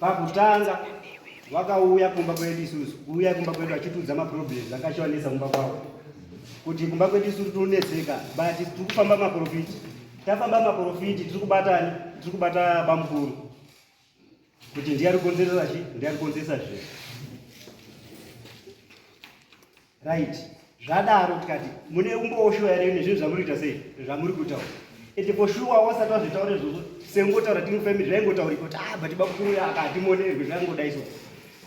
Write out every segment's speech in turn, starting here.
Pakutanga vakauya kumba kwedu isusu, kuuya kumba kwedu vachitiudza maproblems akachiwanetsa kumba kwavo, kuti kumba kwedu isusu tinonetseka, but tiri kufamba maprofiti. Tafamba maprofiti, tiri kubatani, tiri kubata bamukuru kuti ndiye ari kukonzeresa chi, ndiye ari kukonzeresa zvinhu right zvadaro tikati mune umbowo shuwa here nezvinhu zvamuri kuita sei zvamuri kutaura ende for shuwa wasati wazvitaura izvozvo sengotaura timu family zvaingotaurika kuti ah but bakuru yaka hatimonerwe zvaingoda izvo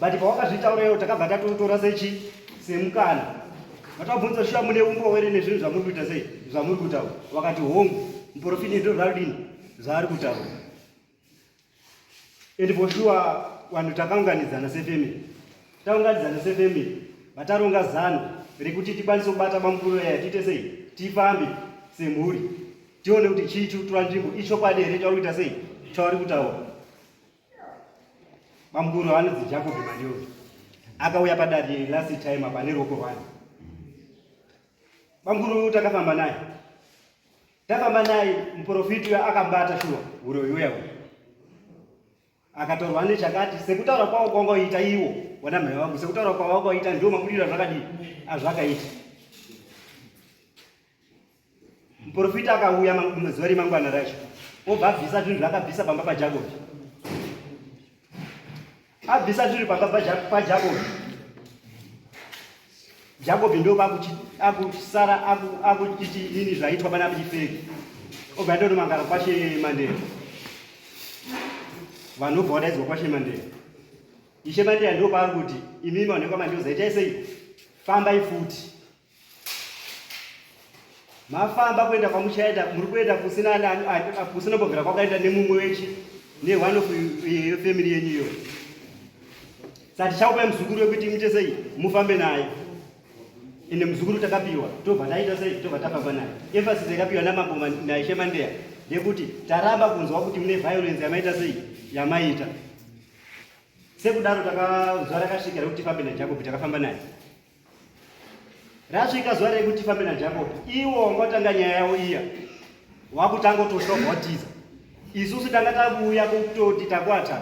but pawakazvitaura iwo takabva tatotora sechi semukana vatabvunza shuwa mune umbowo here nezvinhu zvamuri kuita sei zvamuri kutaura wakati hongu muprofiti ndozvarudini zvaari kutaura and for sure vanhu takaunganidzana sefamily taunganidzana sefamily vataronga zano rekuti tikwanise kubata bamukuru yaya tiite sei tifambe semhuri tione kuti chii chiri kutora nzvimbo ichokwadi here chauri kuita sei chauri kutaura bamukuru vanonzi jacob mandiyo akauya padari last time apa neruoko rwani bamukuru takafamba naye Tafamba naye muprofiti uya akambata shuwa uroyi uya uya. Akatorwa nechakati sekutaura kwavo kwanga uita iwo wana mhai wangu sekutaura kwavo wanga uita ndiwo mabudiro azvakadii azvakaita. Muprofiti akauya mazuva remangwana racho obva abvisa zvinhu zvaakabvisa pamba paJakobi. abvisa zviri pamba pajakobi jakobi ndo akusara akuchiti nini zvaitwa pana pichifeki obva ndonomangara kwashe mandere vanhu obva wadaidzwa kwashe mandere ishe mandere ndo paari kuti imimi vanhu ekwamandioza itai sei fambai futi mafamba kuenda kwamuchaenda muri kuenda kusina kusina bogera kwakaenda nemumwe wechi neone of yefamily yenyu iyo sa tichakupai muzukuru wekuti muite sei mufambe naye ende muzukuru takapiwa tobva taita sei tobva tafamba naye emphasis yakapiwa namambo naishe mandeya ndekuti taramba kunzwa kuti mune violence yamaita sei yamaita sekudaro takanzwa rakasvika rekuti fambe najacob takafamba naye Rasvika zuva rekuti fambe naJacob, iwo wanga watanga nyaya yavo iya, wakutanga utoshoma watiza. Isusu tanga takuuya kutoti takwata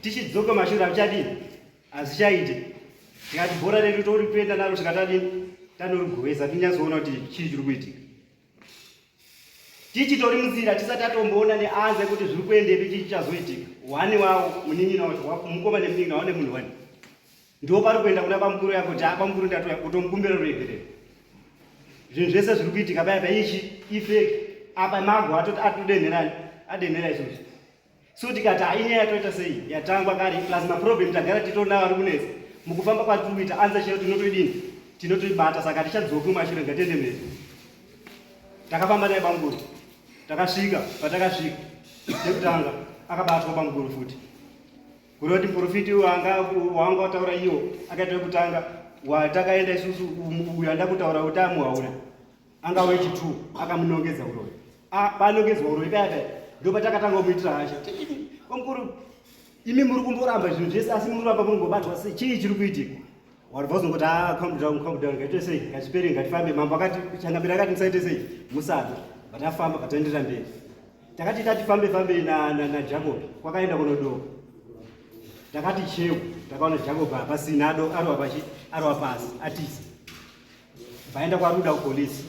tichidzoka mashura kuchadini hazvichaite tikati bhora redu tori kuenda naro tikatadini tanorigovesa tinyazoona kuti chii chiri kuitika tichitori munzira tisati atomboona neanze kuti zviri kuendepi chii chichazoitika wani wawo munin'ina wacho mukoma nemunin'ina wawo nemunhu wani ndo pari kuenda kuna bamukuru yako kuti abamukuru ndatoya kutomukumbira ruregerero zvinhu zvese zviri kuitika paya paichi ifeki apa mago atodenherani adenhera izvozvi so tikati hainyaya yatoita sei yatangwa kare plus maproblem tagara titoona vari kunetsa mukufamba kwatiri kuita anza chero tinotoidini tinotoibata saka hatichadzoki mumashure ngatende mberi takafamba naye bamukuru takasvika patakasvika chekutanga akabatwa bamukuru futi kureva kuti muprofiti wanga wanga wataura iyo akaita kutanga watakaenda isusu uyo anda kutaura kuti amuhaura anga wechi 2 akamunongedza uroyi ah, panongedzwa uroyi kaya kaya ndopatakatanga kumuitira hasha kwamukuru imi muri kumboramba zvinhu zvese asi muri kuramba muri kumbobatwa sei chii chiri kuitika vanhu vazongoti ah, calm down calm down ngaite sei ngachipere ngatifambe mambo akati changamira akati musaite sei musabe vatafamba vataenderera mberi takati tatifambe fambe najacob kwakaenda kunodoka takati cheu takaona jacob hapasina ado arova pasi atisi Vaenda kwaruda kupolice.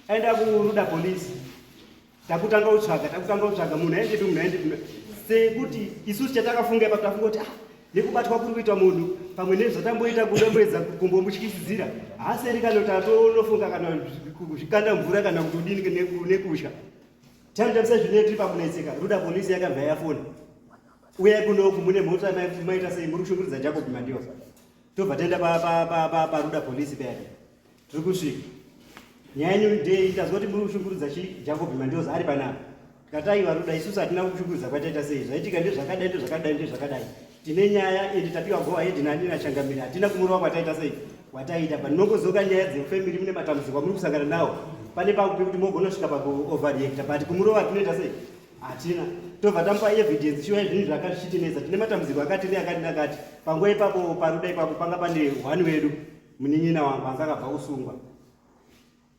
Aenda kuruda police. Takutanga utsvaga, takutanga utsvaga munhu aende munhu aende munhu. Sekuti isusu chatakafunga ipapo tafunga kuti ah nekubatwa kuri kuita munhu pamwe nezvatamboita kudomboedza kumbomutyisidzira haaseri kana kuti atonofunga kana zvikanda mvura kana kuti udini nekutya tamtamisa zvine tiri pakunetseka ruda polisi yakabva yafona uyai kunoku mune mhota maita sei muri kushungurudza jacob mandiwa tobva taenda paruda polisi payake tiri kusvika nyaya yenyu ndei tazwa kuti muri kushungurudza chi jacob mandios ari panapa tikatai varuda isusu hatina kushungurudza kwataita sei zvaitika ndezvakadai ndezvakadai ndezvakadai tine nyaya ende tapiwa go ahead nani nachangamiri hatina kumurova kwataita sei wataiita but nongozoka nyaya dzefamily mune matambudziko amuri kusangana nawo pane pakupi kuti mogonosvika pakuoverreacta but kumurova tinoita sei hatina tobva tamupa evidence shuwa zvinhu zvakati zvichitinetsa tine matambudziko akati neakati nakati panguva ipapo paruda ipapo panga pane one wedu munin'ina wangu anga akabva kusungwa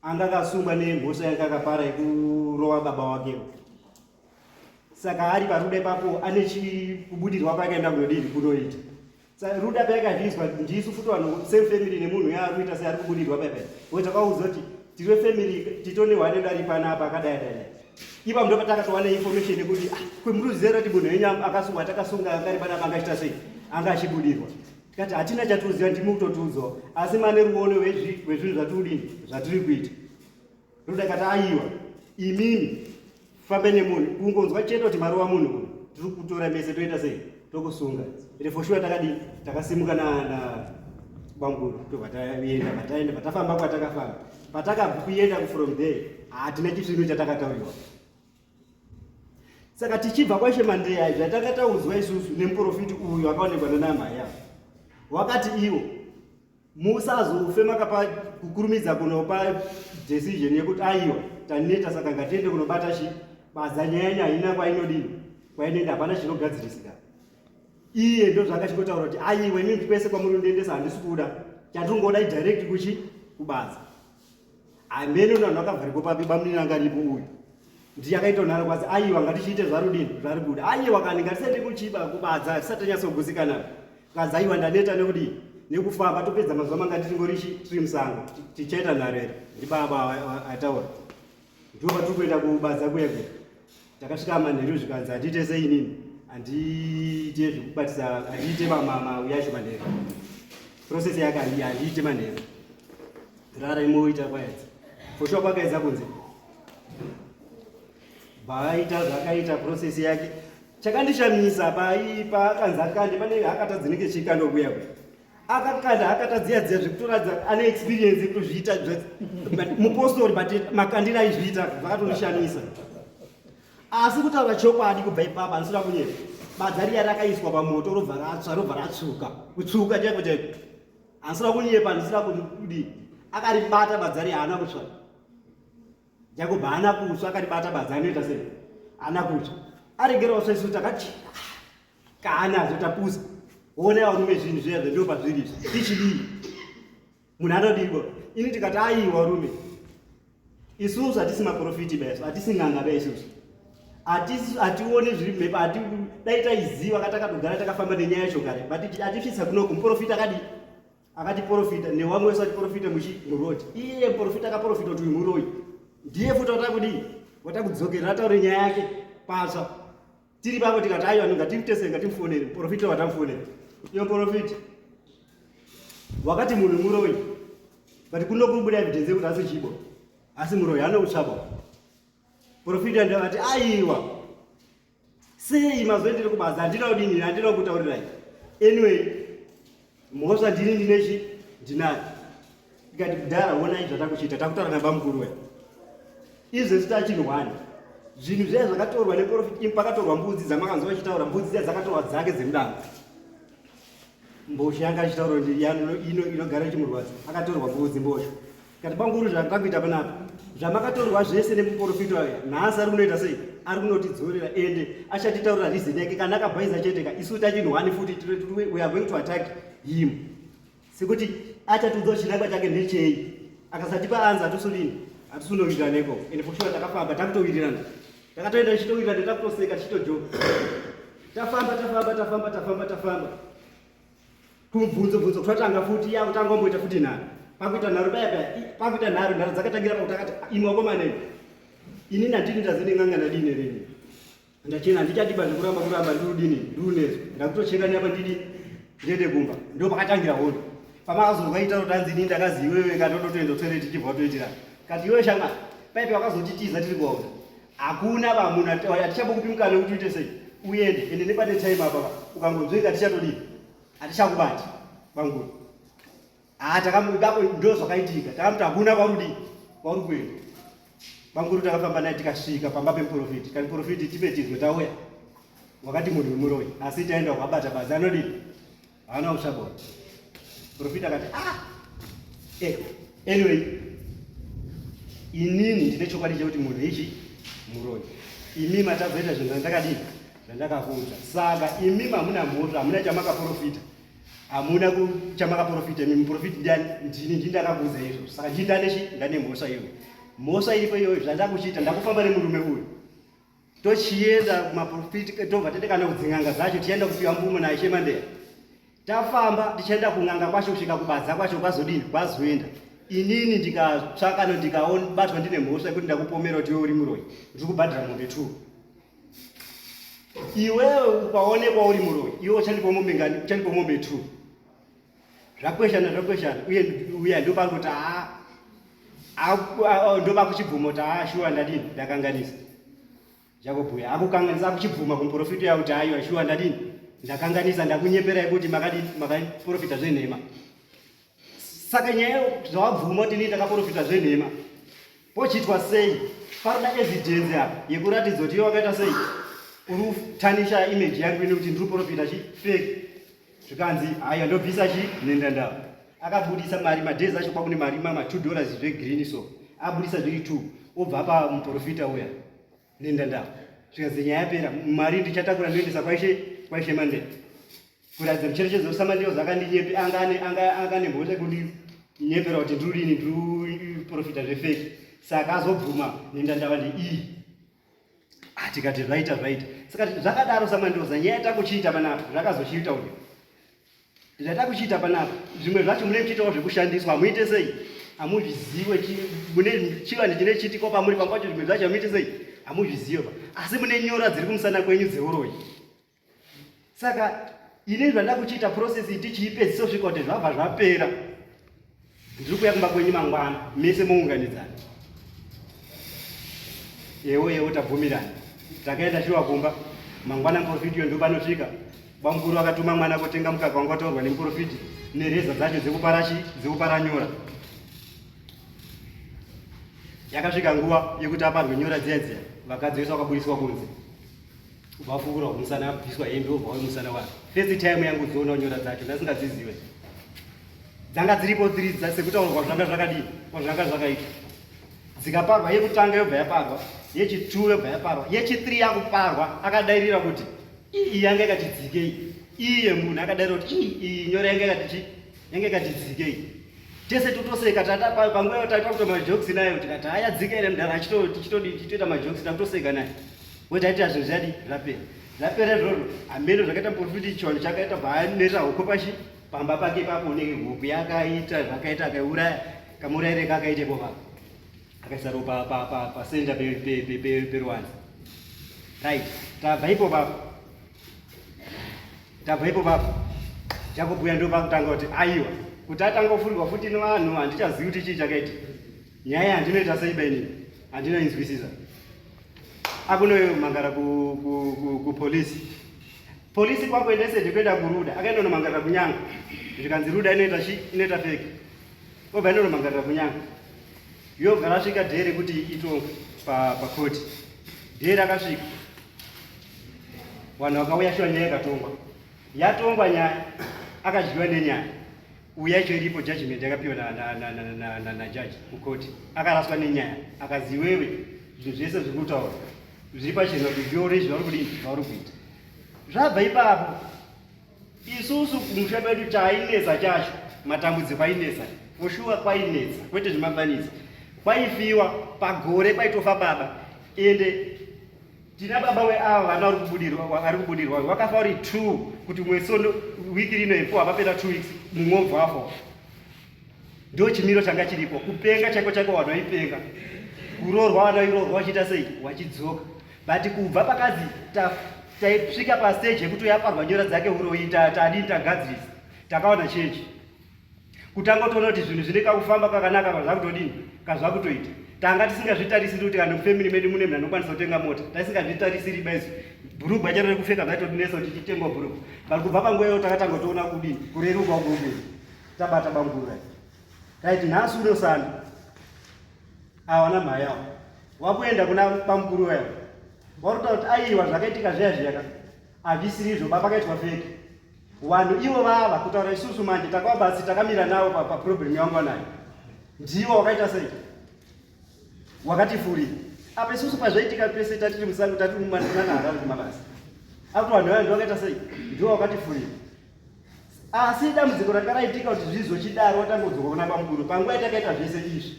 anga akasungwa nemhosva yanga akapara yekurova baba wake saka ari paruda ipapo ane chikubudirwa paakaenda kunodii kunoita Ruda payakazvinzwa ndisu futi vanhu same family nemunhu yaari kuita seari kubudirwa paipai we takaudzwa kuti tiri wefamily titone hwane dari panapa akadai dai ipa mundo patakatowana information yekuti ah, kwemuruzizero kuti munhu wenyu akasungwa takasunga angari panapa angaita sei anga achibudirwa tikati hatina chatiuziva ndimi kutotiudzwa asi mane ruono wezvinhu zvatiri kudini zvatiri kuita Ruda akati aiwa imimi fambe nemunhu kungonzwa chete kuti maruwa munhu uyu tiri kutora mese toita sei tokusunga ende for sure takadii takasimuka nabamguru tobva taenda pataenda patafamba kwatakafamba patakakuenda from there hatina chisvinu chatakatauriwa saka tichibva kwaishe mandeya zvatakataudzwa isusu nemuprofiti uyu akaonekwa nanamhaya wakati iwo musazofe makapa kukurumidza kunopa decision yekuti aiwa taneta saka ngatiende kunobata chi badza nyaya nyaya haina kwainodini kwainoenda hapana chinogadzirisika iye ndo zvakachingotaura kuti aiwa inini kwese kwamuri undiendesa handisi kuda chatiri kungoda idirect kuchi kubaza hameno na vanhu vakavharikwa papi bamunini anga aripo uyu ndiye akaitonhara kwazi aiwa ngatichiite zvarudini zvari kuda aiwa kani ngatisaite kuchiba kubadza tisati tanyatsogutsikana kwazi aiwa ndaneta nekudii nekufamba topedza mazuva manga titingori tiri musango tichaita nharo here ndibaba ataura ndiwo vatiri kuenda kubadza kuya kuya Takasvika manheru zvikanzi handiite sei inini handiite zvekubatisa handiite mamama uyacho manheru process yake handiite manheru rara imoita kwaedza foshuwa kwakaedza kunze baaita zvaakaita process yake chakandishamisa paakanzi akande pane akatadzinike chikandokuya kuya akakanda akatadziya dziya zvekutoradza ane experience yekutozviita mupostori but makandira aizviita zvakatonishamisa asi kutaura chokwadi kubva ipapa anisina kunyepa badza riya rakaiswa pamoto robva ratsva robva ratsvuka kutsvuka chaiko chaiko anisina kunyepa anisina kudi akaribata badza riya haana kutsva Jacob haana kutsva akaribata badza anoita sei? Haana kutsva. Aregerawo saisu takati kana azotapusa. Ona varume zvinhu zviya zvendiwo pazviri izvi. Tichidii? Munhu anodiko? Ini tikati aiwa rume. Isusu hatisi maprofiti baisu, hatisi n'anga baisusu. Hatisi hationi zviri mhepo, hati dai taiziva katakatogara takafamba nenyaya yacho kare. But hatisvitsa kunoku muprofita akadii? akatiporofita newamwe wese atiporofita muchi muroad iye muporofita akaporofita kuti uyu muroyi ndiye futi watava kudii wata kudzokerera ataure nyaya yake patsva tiri pavo tikati aiwa ngatimutese ngatimufonere muporofita watamufonera iyo muporofita wakati munhu muroyi but kuno kubuda evidence yekuti asi chibo asi muroyi anoutsvabo porofita ndavati aiwa sei mazuva ndiri kubasa handina kudini handina kutaurirai anyway mhosva ndini ndine chi ndinayo ndikati kudhara onai zvatakuchiita takutaura nabamukuru we izvi zita chinhu one zvinhu zviya zvakatorwa neprofit im pakatorwa mbudzi dzamakanzwa vachitaura mbudzi dziya dzakatorwa dzake dzemudanga Mbozha yanga achitaura kuti yano ino inogara chimurwadza akatorwa mbudzi mbozha. Kati banguru zvakakuita panapa zvamakatorwa zvese nemuporofita aya nhasi ari kunoita sei ari kunotidzorera ende achatitaurira reason yake kana akabhaiza cheteka isu tachinhwani futi we are going to attack him sekuti achatiudza chinangwa chake ndechei akasatipa anza atusulini atusunowirirana iko ende fushuwa takafamba takutowirirana Takatoenda tichitowira ndakakoseka tichitojoka. Tafamba tafamba tafamba tafamba tafamba. Kumubvunzo bvunzo kutanga futi ya kutanga omboita futi nharo. Pakuita nharo baya baya pakuita nharo nharo dzakatangira pakuti akati imwe akomana iyi. Ini ndatini ndazini nganga ndadini rini. Ndachena ndichadiba ndikuramba kuramba ndudini ndunezvo. Ndakutocheka nyapa ndidi ndiende kumba. Ndipo pakatangira hondo. pamakazono kaita kuti anzi ini ndakazi iwewe katototoenda toilet tichibva toitira kati iwewe shanga paipi wakazotitiza tiri kuwaona hakuna vamuna hatichabo kupi mukana wekuti uite sei uende ende nepane time apapa ukangonzwei katichatodii hatichakubati vanguri haa ah, takamudako ndo zvakaitika takamuti hakuna kwauri kudii kwauri kuenda vanguri takafamba naye tikasvika pamba pemuprofiti kani profiti tipe tizwe tauya wakati munhu wemuroyi asi taenda kwabata bazi anodii haana kusagona profita akati ah eh anyway inini ndine chokwadi chekuti munhu ichi muroi imi matazoita zvinhu zvandakadii zvandakakuudza saka imi mamuna mhoto hamuna chamakaprofita hamuna chamakaprofita imi muprofiti ndiani ndini ndini ndakakuudza izvo saka ndini ndanechi ndane mhosva iyoyo mhosva iripo iyoyo zvandakuchiita ndakufamba nemurume uyu tochienda kumaprofiti eh, tobva tatekana kudzin'anga dzacho tichaenda kupiwa mvumo naye chemandeya tafamba tichaenda kun'anga kwacho kusvika kubadza kwacho kwazodini kwazoenda inini ndikatsvakano ndikabatwa ndine mhosva yekuti ndakupomera kuti iwe uri muroyi ndiri kubhadhira mombe two iwewe ukaonekwa uri muroyi iwe uchandipa mombe ngani uchandipa mombe two zvakweshana zvakweshana uye uya ndopangoti haa ndoba kuchibvuma kuti haa shuwa ndadini ndakanganisa jakobhuya akukanganisa akuchibvuma kumuprofita uya kuti aiwa shuwa ndadini ndakanganisa ndakunyeperai kuti makadini makaprofita zvenhema saka nyaya zvawabvuma kuti nii ndakaprofita zvenhema Pochiitwa sei? Panoda evidence apa yekuratidza kuti iwe wakaita sei? Uri kutanisha image yangu ine kuti ndiri profita chi fake. Zvikanzi haya ndobvisa chi nenda ndava. Akabudisa mari madays acho kwakune mari mama 2 dollars zve green so. Abudisa zviri 2 obva pa muprofita uya. Nenda ndava. Zvikanzi nyaya yapera mari ndichatakura ndoendesa kwaishe kwaishe mande. kuratidza kucherechedza kusamandiwa zvakandinyepe anganemhosva kundinyepera kuti ndirini ndiprofita zvefeki saka azobvuma nenda ndava ndeiyi ah, tikati zvaita zvaita saka zvakadaro samandoza nyaya yatakuchiita panapa zvakazochiita uyu zvatakuchiita panapa zvimwe zvacho mune muchiitawo zvekushandiswa hamuite sei hamuzviziwe mune chivanhu chine chitiko pamuri pamwe pacho zvimwe zvacho hamuite sei hamuzviziwe pa asi mune nyora dziri kumusana kwenyu dzeuroyi saka ini zvanda kuchiita process iti chiipedzisa kusvika kuti zvabva zvapera ndiri kuya kumba kwenyu mangwana mese mounganidzana ewo ewo tabvumirana takaenda shuwa kumba mangwana muprofiti yo ndopanosvika bamukuru vakatuma mwana kotenga mukaka wanga wataurwa nemuprofiti nereza dzacho dzekupara nyora yakasvika nguva yekuti aparwe nyora dziya dziya vakadzi vese vakaburisiwa kunze Ubafukura umusana abviswa hembe ubva umusana wake. First time yangu kuona nyora dzacho ndasingadzizive. Dzanga dziripo dziri dzasekuta kwa zvanga zvakadii? Kwa zvanga zvakaita. Dzikaparwa yekutanga yobva yaparwa, yechituru yobva yaparwa, yechitiri yakuparwa akadairira kuti iyi yanga yakatidzikei. Iye munhu akadairira kuti iyi nyora yanga yakatichi yanga yakatidzikei. Tese totoseka tata panguva yotata kutoita majokes nayo tikati haya dzika ine mdara achito tichitodi tichitoita majokes takutoseka naye. Wotaita zvinhu zvadi zvapera. Zvapera izvozvo hameno zvakaita muporofiti chivanhu chakaita baanerera hoko pashi pamba pake papo unenge huku yakaita zvakaita akaiuraya kamuraire kakaitepo papa akaisa ropa pasenda peruwanza right tabva ipo papa tabva ipo papa chakubhuya ndo pakutanga kuti aiwa kuti atanga kufurigwa futi nevanhu handichazivi kuti chii chakaita nyaya handinoita sei bainini handinoinzwisisa akunomangara kupolisi ku, ku, ku polisi kwakuendese ndikuenda kuruda akaenda unomangarira kunyanga zvikanzi ruda inoita chi inoita feki obva enda unomangarira kunyanga yobva rasvika dhee rekuti ito pakoti dhee rakasvika vanhu vakauya shuwa nyaya yakatongwa yatongwa nyaya akadyiwa nenyaya uyu yacho iripo judgment yakapiwa najaji kukoti akaraswa nenyaya akazi iwewe zvinhu zvese zviri kutaura zviri pachena kuti zviore zvauri kudii zvauri kuita zvabva ipapo isusu kumusha kwedu chainetsa chacho matambudziko ainetsa foshuwa kwainetsa kwete zvemabanisa kwaifiwa pagore kwaitofa baba ende Tina baba we ava vana vari kubudirwa ari kubudirwa wakafa uri two kuti mwesi ono wiki rino ifo hapapera two weeks mumwe obvafo ndo chimiro changa chiripo kupenga chaiko chaiko vanhu vaipenga kuroorwa vanhu vairoorwa vachiita sei wachidzoka but kubva pakazi taisvika pasteji yekuti uyaparwa nyora dzake uroyi tadii tagadzirisa takaona chenji kutanga utoona kuti zvinhu zvine kakufamba kakanaka kana zvakutodini kana zvakutoita tanga tisingazvitarisiri kuti kana mufamily medu mune munhu anokwanisa kutenga mota taisingazvitarisiri baizi bhurugwa charo rekupfeka zvaitodinesa kuti titengwa bhurugwa but kubva panguva iyo takatanga kutoona kudini kureruka kuume tabata bangura taiti nhasi unosanda awana mhaya awo wakuenda kuna bamukuru wayo wakutotaura kuti aiwa zvakaitika zviya zviyaka hazvisirizvo baba kaitwa feki Vanhu ivo vava kutaura isusu manje takava basi takamira navo paproblem yangu vanayo. Ndivo wakaita sei? Wakati furi. Apa isusu pazvaitika pese tatiri musango tatiri mumanana harari kumabasa. Apo vanhu vaya ndivo wakaita sei? Ndivo wakati furi. Asi dambudziko ranga raitika kuti zvizochidaro watanga kudzoka kuna bamukuru panguva yatakaita zvese izvi.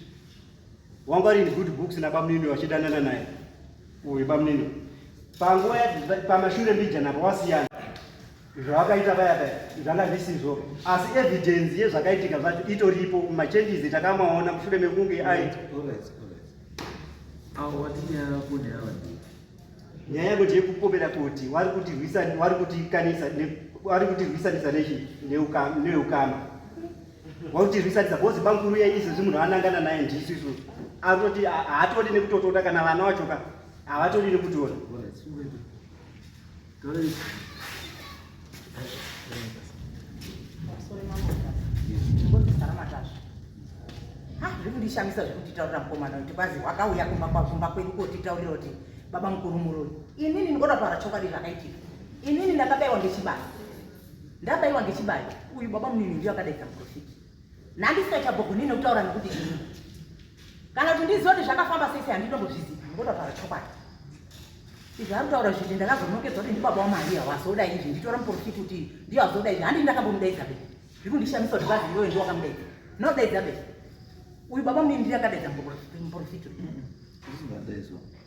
wanga ari in good books nabamunini vachidanana naye uyu bamunini panguva pamashure mbijana pawasiyana zvavakaita vaya vaya zvanga zvisizvo asi evidence yezvakaitika zvacho itoripo machanges takamaona mushure mekunge ai nyaya yangu ndeyekupomera kuti wari kutirwisanisa nechii neukama wautirwisarisa bhozi bankuru yenyu izvezvi munhu anangana naye ndisu isu atoti haatodi nekutotoda kana vana wachoka havatodi nekutora zvekundishamisa zvekutitaurira mukomana kuti kwazi wakauya kumba kwakumba kwedu kotitaurira kuti baba mukuru muroyi inini ndikoda kutaura chokwadi zvakaitika inini ndakabaiwa ngechibasa Ndabaiwa ngechibayo. Uyu baba munini ndiye akadaidza muprofiti. Nandisingachabogoni nekutaura nekuti ini. Kana kuti ndiziva kuti zvakafamba sei sei handinombozviziva. Ngoda kutaura chokwadi. Izvi arikutaura zviti ndakazonokedzwa kuti ndibaba waMaria wazoda izvi nditora muprofiti kuti ndiye wazoda izvi handii ndakambomudaidza be. Zviri kundishamisa kuti bazi iwewe ndiwe wakamudaidza. Ndinodaidza be. Uyu baba munini ndiye akadaidza muprofiti. Ndizingadaizwa.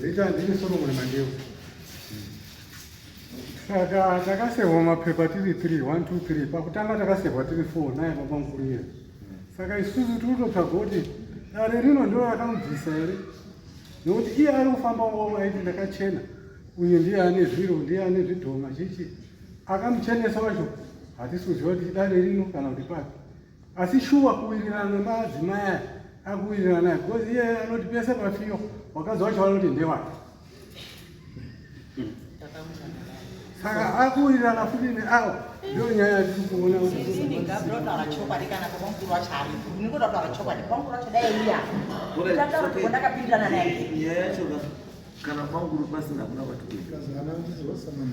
Zita ndini Solomon Mandevu. Saka takasehwa mapepa tiri 3 1 2 3 pakutanga takasehwa tiri 4 naye baba mukuru iye. Saka isusu tinototsvaga kuti dare rino ndiro rakamubvisa here nekuti iye ari kufamba wavo aiti ndakachena uyu ndiye ane zviro ndiye ane zvidhoma chichi akamuchenesa wacho hatisi kuziva kuti idare rino kana kuti pake asi shuwa kuwirirana nemadzimai aya akuwirirana naye because iye anoti pese pafiyo wakadzi wacho vanoti ndewake saka akuwirirana futi neawa ndo nyaya yatiri kuona kana kwanguru pasina kuna vatukuaa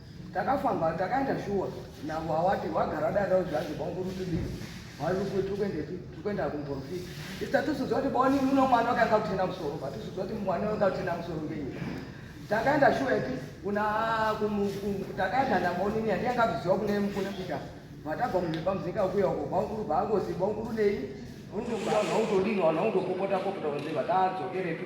Takafamba takaenda shuwa navo awati wagara dada uzvanzi bongo ruti dii waruti tukuendepi tukuenda kumporofita ita tusudzwa kuti boni uno mwana wakanga kutenda musoro pa tusudzwa kuti mwana wakanga kutenda musoro ngenyi takaenda shuwa iti kuna takaenda naboni ni andiyanga kuziwa kune mkune kuita vatabva mumhepa muzika ukuya uko bonguru bangozi bonguru nei unotodini wanhu unotopopota popota kunze vatadzokerepi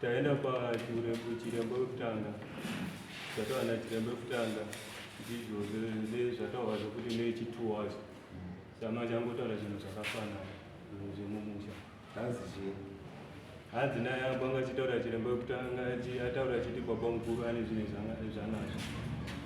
Taenda pachiremba wekutanga zvataura nachiremba wekutanga ndizvo zvezvataura zvekuti nechituwazi samanje angotaura zvinhu zvakafanana zvinhu zvemumusha hanzi zvii hanzi naye abanga achitaura chiremba wekutanga ataura achiti baba mukuru ane zvinhu zvanazvo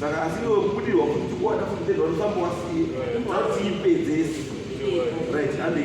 Saka asi iwe kubudirwa kuti tikuwana futi tezvanosambowasiye. Zvauti ipedzesi. Right, hande.